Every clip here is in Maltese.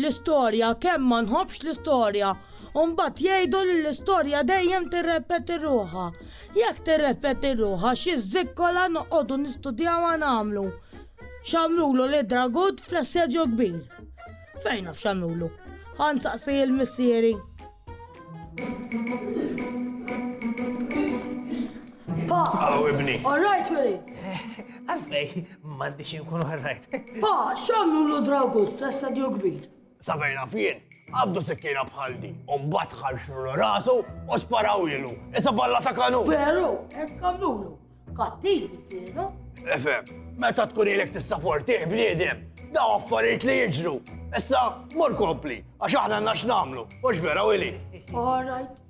L-istorja, kemm ma nħobbx l-istorja, u mbagħad jgħidu li l-istorja dejjem tirrepeti ruħha. Jekk tirrepeti ruħha xi żikkola noqogħdu nistudjawha nagħmlu. X'għamlulu li dragut fl-assedju kbir. Fejn naf x'għamlulu? Ħan saqsi il-missieri. Pa! Aw ibni. All right, Willy. Għalfej, M'għandix inkun all right. Pa, x'għamlu l dragu fl-istadju kbir? Sabajna fien, għabdu sikkina bħal di, u mbagħad ħarxlu rasu u sparaw ilu. Issa balla ta' kanu. Veru, hekk għamlulu. Kattiv kienu. Efe, meta tkun ilek tissaportih bniedem, da affarijiet li jiġru. Issa, mor kompli, għax aħna għandna x'namlu, u x'vera u li. All right.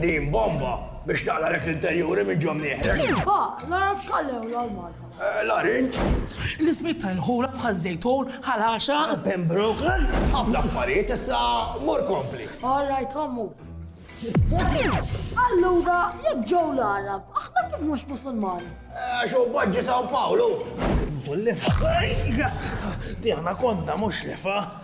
Din bomba biex taqla lek l-interjuri minn ġom nieħrek. Ba, nara bxallew l-Malta. Eh, Larinġ. L-ismit ta' l-ħura bħal zejtun, ħalaxa. Pembroke. Għabla affarijiet issa mur kompli. All right, għammu. Allura, jek ġew l-Arab, aħna kif mhux musulmani? Eh, xo bħadġi Sao Paolo. Diħna konna mhux lefa.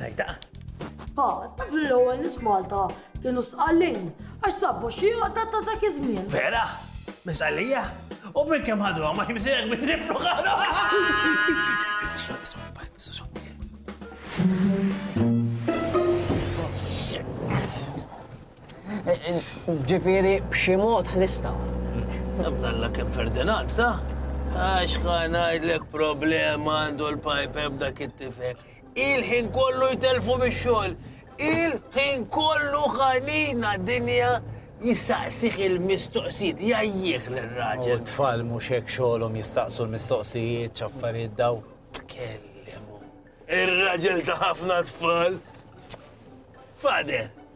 Rajda. Ha, taf li l-ewwel nis Malta kienu sqallin għax sabbu xi għadda ta' dak iż-żmien. Vera? Misqallija? U minn kemm ħadu ma jimsejek bitriflu ħadu. Ġifieri b'xi mod ħlistha. Nafdalla kemm Ferdinand ta? Għax ħa ngħidlek problema għandu l-pajpe b'dak it-tifel. Il-ħin kollu jtelfu mix-xogħol. Il-ħin kollu ħanina dinja jistaqsih il-mistoqsijiet, jajjih l-raġel. U tfal mhux hekk xogħolhom jistaqsu l-mistoqsijiet, ċaffariet daw. Tkellimu. Ir-raġel ta' ħafna tfal. Fade,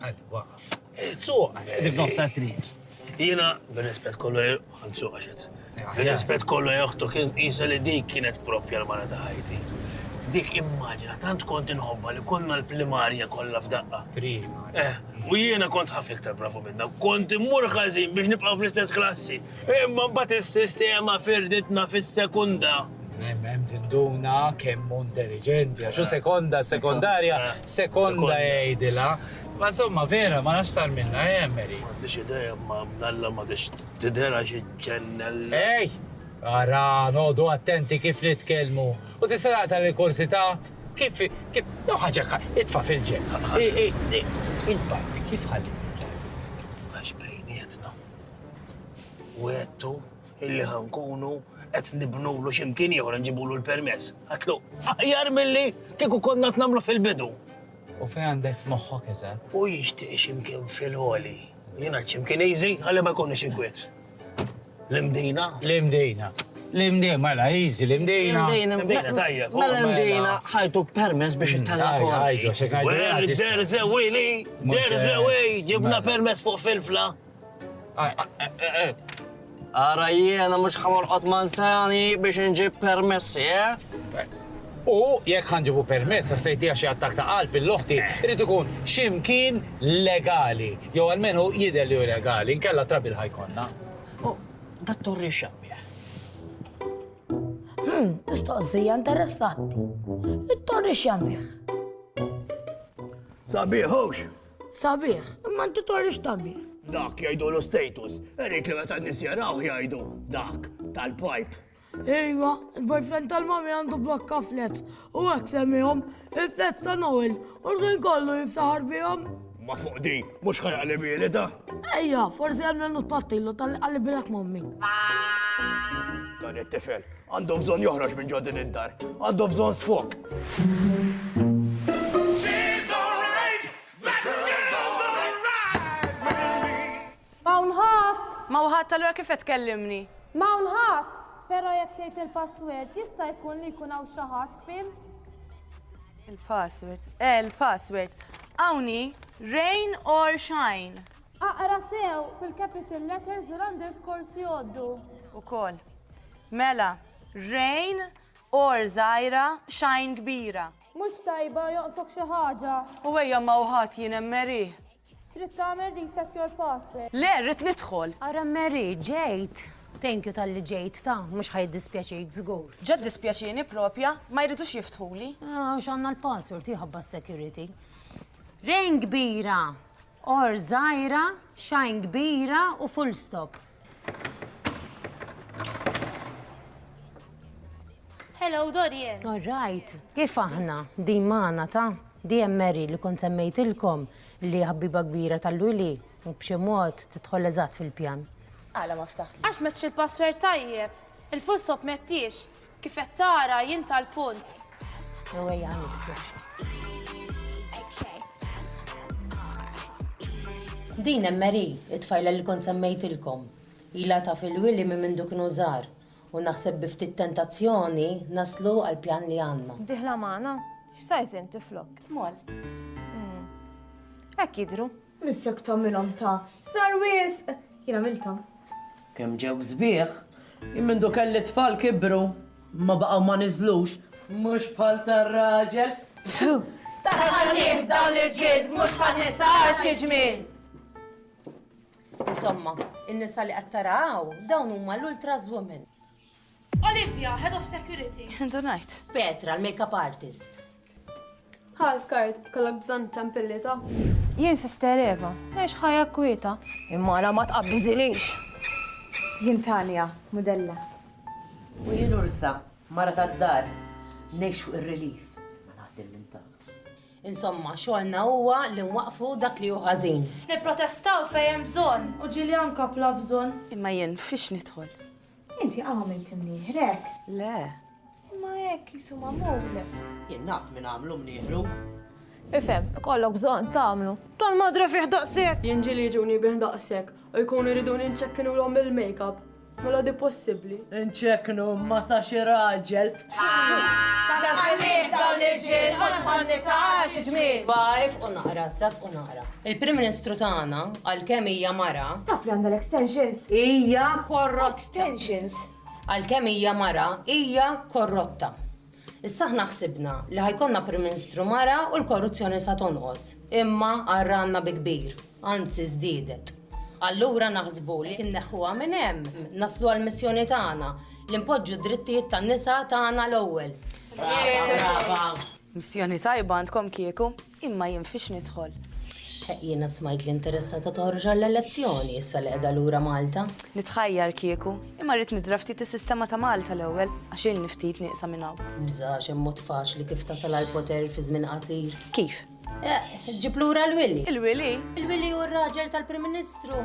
Għalli, waqaf. Suq, dik nofsa triq. Jiena, bir-rispett kollu, għan suq għaxet. Bir-rispett kollu joħtu kien jisa li dik kienet propja l-mara ta' ħajti. Dik immaġina, tant kont inħobba li konna l-primarja kollha f'daqqa. Prima. Eh, u jiena kont ħafna iktar bravu minna, kont immur ħażin biex nibqa' fl-istess klassi. Imma mbagħad is-sistema firditna fis-sekunda. Hemm hemm tinduna kemm hu intelliġenti, għax hu sekonda, sekondarja, sekonda jgħidilha. Ma insomma vera, ma nafx sar minnha, eh Mary? M'għandix idea, imma mnalla ma tix tidherha xi ġennella. Ej! Ara, noqogħdu attenti kif nitkellmu. U tista' taqta' lil Kursità? Kif kif jew ħaġa ka itfa' fil-ġenb. Int barbie kif ħalli nitlgħek? Għax bejnietna. U għedtu illi ħankunu qed nibnulu x'imkien ieħor nġibulu l-permess. Għatlu, aħjar milli kieku konna tnamlu fil-bidu. U fejn għandek f'moħħok eżatt? U jixtieq x'imkien fil-ħoli. Jiena x'imkien easy għalli ma jkunx inkwiet. L-imdina? L-imdina. L-imdina, mela, easy, l-imdina. L-imdina, tajja. Mela, mela l-imdina, ħajtuk permess biex it-talla kol. Għajdu, xekħajdu. Derżewili, derżewili, ġibna permess fuq fil-fla. Ara jiena mhux ħamorqod manzani biex inġib permessi, eh? U jekk ħanġibu permess għas-sejtija xi attak ta' qalb il-loħti, irid ikun x'imkien legali, jew almenu jidher li hu legali, inkella trabil ħajkonna. U dat-torri x'għamil? Hmm, mistoqsija interessanti. It-torri x'għamil? Sabiħux, Sabiħ, imma inti torri x'tabiħ. Dak jgħidulu status, irrid li meta n-nies jarawh jgħidu dak tal-pipe. Ejwa, il-boyfriend tal-mami għandu blokka flet u għek semmijom il-flet ta' Noel u l-għin kollu jiftaħar bijom. Ma fuq di, mux ħarqa li bili da? Ejja, forse għamlu nuttattilu tal-għalli bilak mommi. Dan it-tifel, Għandu bżonn joħroġ minn ġo din id-dar. Għandu bżonn sfog. M'hawn ħadd! M'hawn ħadd, allura kif qed tkellimni? M'hawn ħadd! Però jekk tgħid il-password, jista' jkun li jkun hawn xi ħadd, fhimt? Il-password, eh, il-password. Hawn hi, rain or shine. Aqra sew bil-capital letters u l-underscores jgħoddu. Ukoll. Mela, rain, or żgħira, shine kbira. Mhux tajba joqsok xi ħaġa. U ejja ma uħat jien hemm Mary. Trid tagħmel reset your password. Le, rrid nidħol. Ara Mary, ġejt. Thank you talli ġejt, ta, mhux ħa jiddispjaċik żgur. Ġa ddispjaċieni propja, ma jridux jiftħuli. Għax għandna l-password, hi ħabba s-security. Rain kbira. Or żgħira, shine kbira u full stop. Hello, Dorian. All right. Kif aħna, di maħna ta' di Mary li kont semmejtilkom li ħabbiba kbira tal-luli u b'xi mod tidħol eżatt fil-pjan. Għala ma ftaħt. Għax meċċ il-password tajjeb. Il-full stop mettiex. Kif qed tara jien tal-punt. Jew ejja nidfru. Din hemm Mary, it-tfajla li kont semmejtilkom. Ilha taf lil Willy minn mindu kienu żgħar, u naħseb bi ftit tentazzjoni naslu għall-pjan li għandna. Dieħla magħna? X'sajż inti flok? Small. Hekk jidhru. Miss jekk tagħmilhom ta' żgħar wisq, jien għamilthom. Kemm ġew sbieħ! Jien mindu kelli t-tfal kibru, ma baqgħu ma niżlux. Mhux bħal tar-raġel. Pfu! Taħannieh dawn l-irġiel mhux bħan-nisa għax xi ġmiel! Insomma, in-nisa li qed tara hawn dawn huma l-ultras women. Olivia, Head of Security. Intu ngħid. Petra, l-makeup artist. Ħadd kard, kollok bżonn ċampillita. Jien Sister Eva, ngħix ħajja kwieta. Imara ma tqabbiżilix. Jien Tania, mudella. U jien Ursa, mara tad-dar. Ngħix fuq ir-relief, imma naħdem minn taħt. Insomma, xogħolna huwa li nwaqqfu dak li hu ħażin. Nipprotestaw fejn hemm bżonn. U ġieli anka bla bżonn. Imma jien fiex nidħol? Inti qaw għamilt imnieħrek? Le. Imma hekk qisu magħmul. Jien naf min għamlu mnieħru. Ifhem, ikollok bżonn tagħmlu. Tal-madre fih daqshekk! Jien ġieli jiġuni bih daqshekk u jkunu jriduni nċekkinulhom bil-makeup. Mela di possibbli? Inċekknu ma ta' xi raġel. Tant ħallieh dawn l-irġiel mhux bħan-nisa, xi ġmiel! Ba ifqu naqra, issa fqu naqra. Il-Prim Ministru tagħna, għalkemm hija mara. Taf li għandha l-extensions? Hija korrotta. Extensions? Għalkemm hija mara, hija korrotta. Issa aħna ħsibna li ħa jkollna Prim Ministru mara u l-korruzzjoni sa tonqos. Imma qarrgħanna bi kbir, anzi żdiedet. Allura naħsbu li jekk inneħħuha minn hemm, naslu għall-missjoni tagħna li npoġġu d-drittijiet tan-nisa tagħna l-ewwel. Missjoni tajba għandkom kieku. Imma jien fiex nidħol? Heq jiena smajt li interessata toħroġ għall-elezzjoni issa li qiegħda lura Malta. Nitħajjar kieku, imma rrid nidra ftit is-sistema ta' Malta l-ewwel, għax ilni ftit nieqsa minn hawn. Bża' għax hemm mod faċli kif tasal għall-poter fi żmien qasir. Kif? Heq, ġġib lura l-Wili. Il-Wili? Il-Wili hu r-raġel tal-Prim Ministru.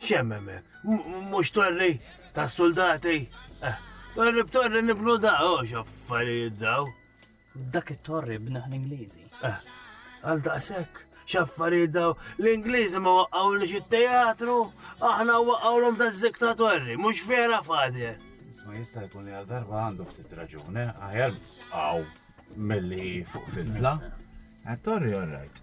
Xem hemmhekk? Mhux torri tas-suldati? Eh, torri b'torri nibnu da, oh x'affarijiet daw. Dak it-torri bnaħ l-Ingliżi. Eh, għal daqshekk x'affarijiet daw. L-Ingliżi ma waqgħu li xi teatru, aħna waqgħu l-om da zikta torri, mhux vera fadi. Isma jista' jkun li għal darba għandu ftit raġune, eh? aħjar għaw mill-li fuq fil-fla. Għat-torri orrajt.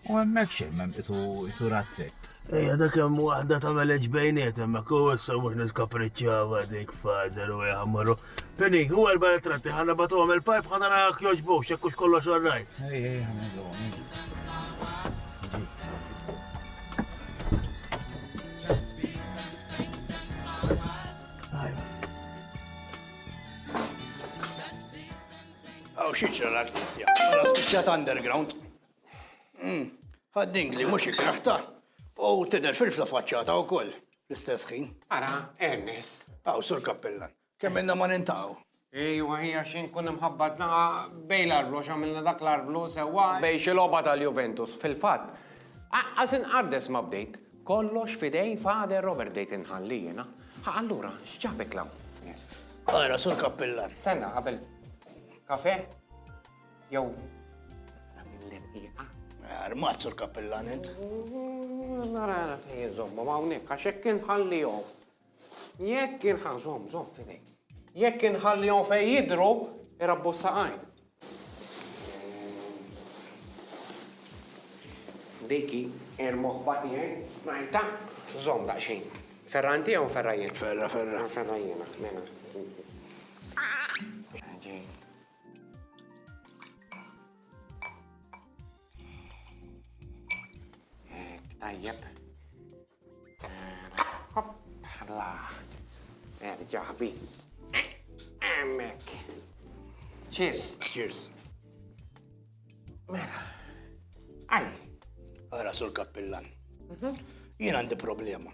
U hemmhekk xejn m'hemm isu isu razzett. Ejja dak hemm waħda tagħmel eġ bejniet hemmhekk u issa mhux niskapriċċjava dik fader u ejja marru. Penny, u erba' ritratti ħana bagħtuhom il-pajp ħana narak jogħġbu x'hekk hux kollox orrajt. Ejja ejja ħamilhom. Hawn xi ġra l-Knisja? Mela spiċċat underground. Hmm, Ħad-dingli mhux ikraħta u tidher filfla faċċata wkoll l-istess ħin. Ara, Ernest. Hawn sur Kappillan, kemm inna ma nintaw. Ejwa, hija xejn kun imħabbatna bej l-arblu x'għamilna dak l-arblu sewwa. Bej xi logħba tal-Juventus, fil-fatt. Aqqas inqaddes ma bdejt. Kollox f'idejn Father Robert bdejt inħalli jiena. Ħa allura x'ġabek 'l hawn? Ara, Sur Kappillan. Stenna qabel kafè jew naqra minn l-irqiqa? Armat, Sur Kappillan, int. Nara fejn inżommhom hawnhekk għax hekk inħallihom. Jekk inħa, żomm, żomm f'idejk. Jekk inħallihom fejn jidhru, irabbu s-saqajn. Dejki, il-moħba tiegħi, ngħidha, żomm daqsxejn. Ferra inti jew ferra jien? Ferra, ferra. Ferra jiena, mela. Tajjeb. La, erġa' Emmek. Cheers. Cheers. Mela, għajli. Għara sul kappillan. Mhm. Jien għandi problema.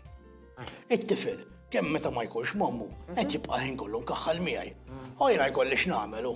Ah. It-tifel, kemm meta ma jkunx mammu, qed jibqa' ħin kollu nkaħħal miegħi. Ah. U jiena jkolli x'nagħmelu.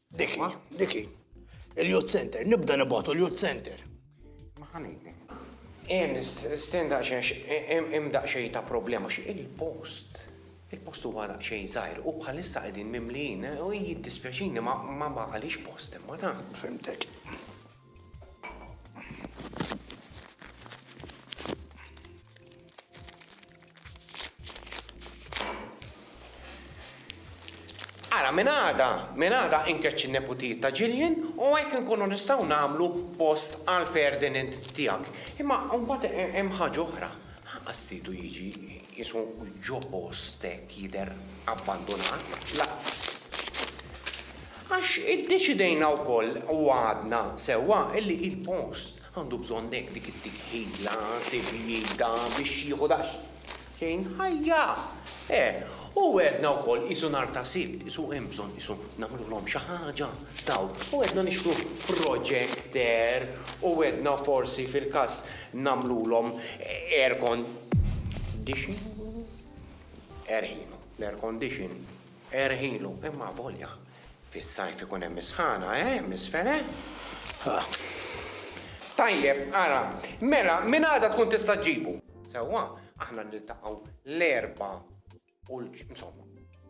Diki, diki. Il-Youth Center, nibda nibgħatu l-Youth Center. Ma ħanejtek. Ien nisten daqsxejn hemm daqsxejn ta' problema xi il-post. Il-post huwa daqsxejn żgħir u bħalissa qegħdin mimlijin u jiddispjaċini ma ma għaliex post imma ta' Fimtek. Ara, minn għada, minn għada inkeċċi neputijiet ta' Ġiljen u hekk inkunu nistgħu nagħmlu post għal Ferdinand tiegħek. Imma mbagħad hemm ħaġa oħra. Ħaqqas tridu jiġi Qisu ġo post hekk jidher abbandunat, lanqas. Għax iddeċidejna wkoll u għadna sewwa illi il-post għandu bżonn hekk dik it-tikħila, tibjida biex jieħu daqsxejn ħajja. Eh, u għedna wkoll qisu nhar ta' Sibt, qisu hemm bżonn qisu nagħmlulhom xi ħaġa dawk. U għedna nixtru projector u għedna forsi fil-każ nagħmlulhom air Condition erħilu, l-air condition erħilu, imma volja fis-sajf ikun hemm is-sħana, eh, misfel, eh? Tajjeb, ara, mela, minn għada tkun tista' ġġibu. Sewwa, aħna niltaqgħu l-erba' Kull insomma,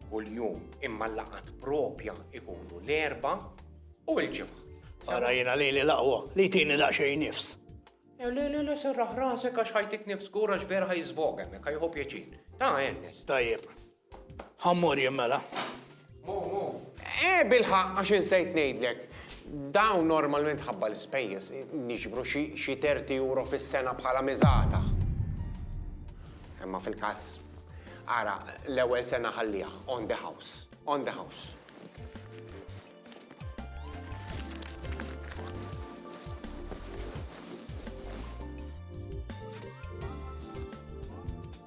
kull jum imma l-laqat propja ikunu l-erba u l-ġimgħa. Ara jiena li li laqwa, li tini daqsxejn nifs. Eh, le, le, le, serraħ rasek għax ħajtik nifs kura vera ħajżvoga, mek ħajħu pjaċin. Ta' Ernest. Tajjeb. Ħammur jimmela. Eh, bil-ħaqq, għax insejt ngħidlek, dawn normalment ħabba l-ispejjeż niġbru xi xi terti euro fis-sena bħala miżata. Imma fil-każ, ara, l-ewwel sena ħalliha on the house, on the house.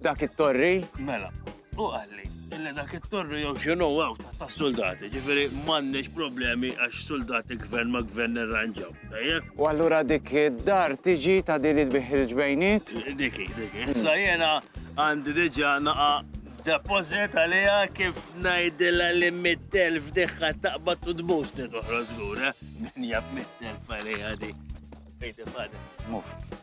Dak it-torri? Mela, u għalli, illi dak it-torri jew xinu għaw ta' soldati, ġifiri mannix problemi għax soldati gvern ma gvern irranġaw, tajjeb? U għallura dik id-dar tiġi ta' din il-biħ il-ġbejniet? Diki, diki. Issa jena għandi diġa naqa depozit għalija kif najdilla li mit-telf diħħa taqbat u tbus li toħroż lura. Min jab mit-telf għalija di. Fejti fadem. Muf.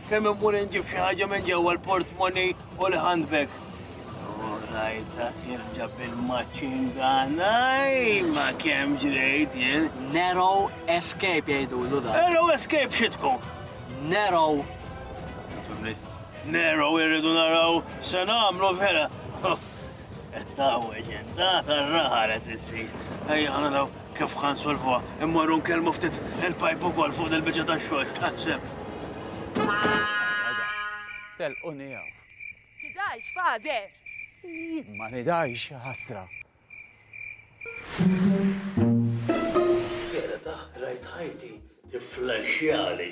Kemm immur inġib xi ħaġa minn ġewwa l-portmoni u l-handbag. U rajta kif ġab il-maċingana, ma kemm ġrejt jien. Narrow escape jgħidu l da. Narrow escape xi tkun? Narrow. Narrow irridu naraw se nagħmlu vera. Tawweġ int, għad ar-raħa qed issir. Ejja naraw kif ħa nsolvuha. Immorru nkellmu ftit il-pajp ukoll fuq dil-biċċa tax-xogħol x'taħseb. Telquni hawn. Tidgħix, Father! Jien ma nidgħix, ħasra. Vera ta' rajt ħajti tifflaxxjali.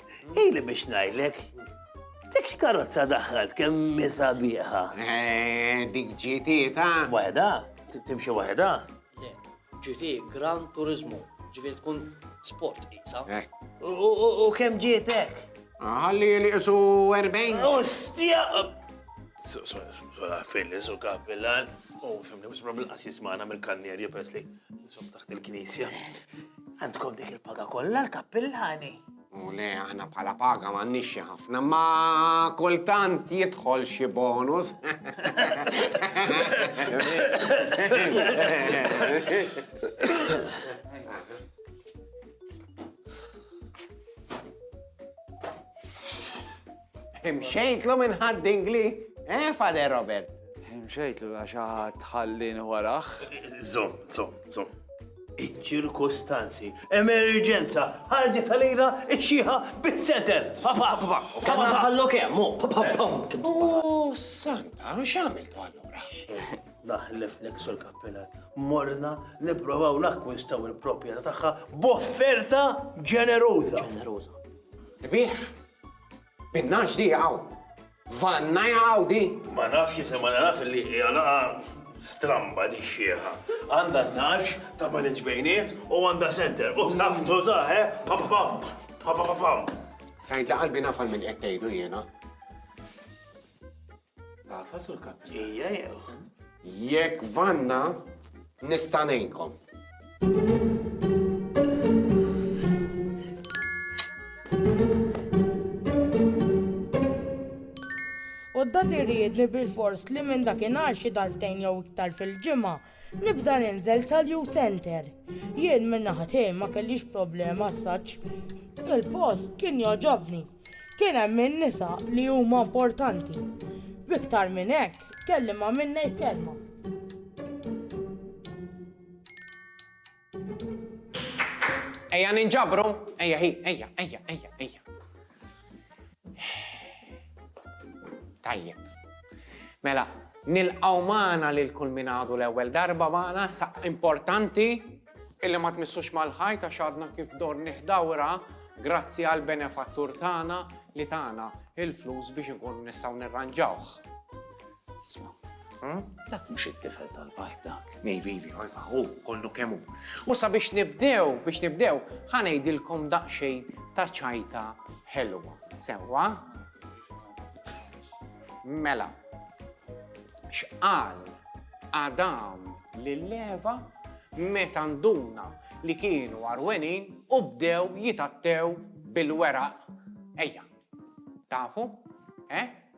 Ili biex ngħidlek, dik x'karozza daħħalt kemm misa bieħa. Eh, dik ġiti ta' Waħda, t- timxi waħda. Le, ġiti Gran Turismo, ġifieri tkun sport isa. Eh, U- U u- u kemm ġietek? Ħalli li isu 40. Ostja! Sola fil-li su kapillan. U fimni, bis problem qas jismana mill-kannierja pres li Intom taħt il-knisja. Għandkom dik il-paga kollha l-kappillani. U le, aħna bħala paga ma nixxi ħafna, ma kultant jidħol xi bonus. Imxejtlu minn ħadd Ingli, eh, Father Robert? Imxejtlu għax ħadd ħallini warah. Zom, zom, zom. Iċ-ċirkustanzi, emerġenza, ħarġet għalina iċ-ċieħa bis-seter. Papa, papa, papa, ħallu kemm, u papa, papa. U santa, x'għamiltu allura? Naħlef l sur kappelan. Morna nipprovaw nakkwistaw il-proprjetà tagħha b'offerta ġeneruża. Ġeneruża. Tbieħ. Binnax di għaw. Vanna għaw di. Ma nafx jisa ma nafx li jgħalaqa stramba di xieħa. Għanda nafx ta' ma nġbejniet u għanda center. U naf tuża, eh? Pam pam pam pam pam. Tajt li qalbi nafal minn qed tgħidu jiena. Għafa sur kappi. Ija jew. Jekk vanna nista' ngħinkom. U d-dad irid li bil-fors li minn dakinhar xi darbtejn jew iktar fil-ġimgħa Nibda ninżel sal-youth center. Jien minn naħa tiegħi ma kellix problema assaġġ. Il-post kien jogħġobni. Kien hemm in-nisa li huma importanti. B'iktar minn hekk, kelli ma' min ngħid kelma. Ejja ninġabru, ejja hi, ejja, ejja, ejja, ejja. Tajjeb. Mela, nilqaw maħna li l-kull minadu l-ewel darba maħna, sa' importanti illi ma tmissux mal-ħajta xadna kif dor nihdawra grazzi għal benefattur tana li tana il-flus biex nkun nistaw nirranġawħ. Isma, hm? dak mhux it-tifel tal-pipe dak. Maybe, ojba, hu kollu kemm hu. U sabiex nibdew, biex nibdew, ħanejdilkom daqsxejn ta' ċajta ħelwa. Sewwa? Mela, x'qal Adam lill-leva meta nduna li kienu arwenin u bdew jitattew bil-weraq. Ejja, tafu? Eh?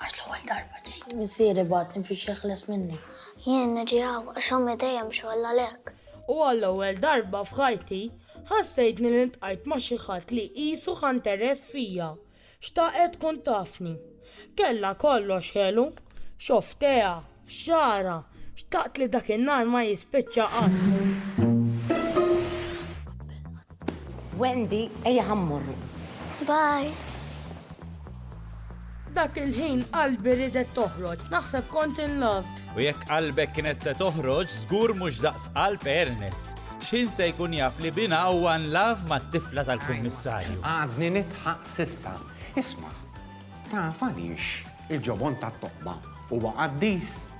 Għax l-ewwel darba tgħid missieri bagħat imxi x'jeħles minni. Jien niġi hawn għax ommi dejjem xogħol għalhekk. U għall-ewwel darba f'ħajti ħassejtni li ltqajt ma' xi ħadd li qisu ħa nteress fija, xtaqet tkun tafni. Kellha kollox ħelu, xofftejha, Xara, xtaqt li dak in-nar ma jispiċċa qatt. Wendy, ejja ħammurru. Bye. Dak il-ħin qalbi ridet toħroġ, naħseb kont in love. U jekk qalbek kienet se toħroġ, żgur mhux daqs qalb Ernest. X'ħin se jkun jaf li bina huwa in love mat-tifla tal-kummissarju. Għadni nitħaq sissa. Isma', Taf għaliex il-ġobon tat-toqba huwa qaddis?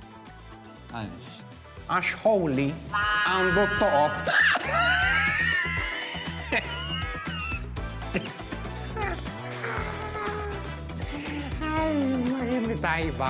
Għaliex? Għax holy għandu t-toqob. Tajba.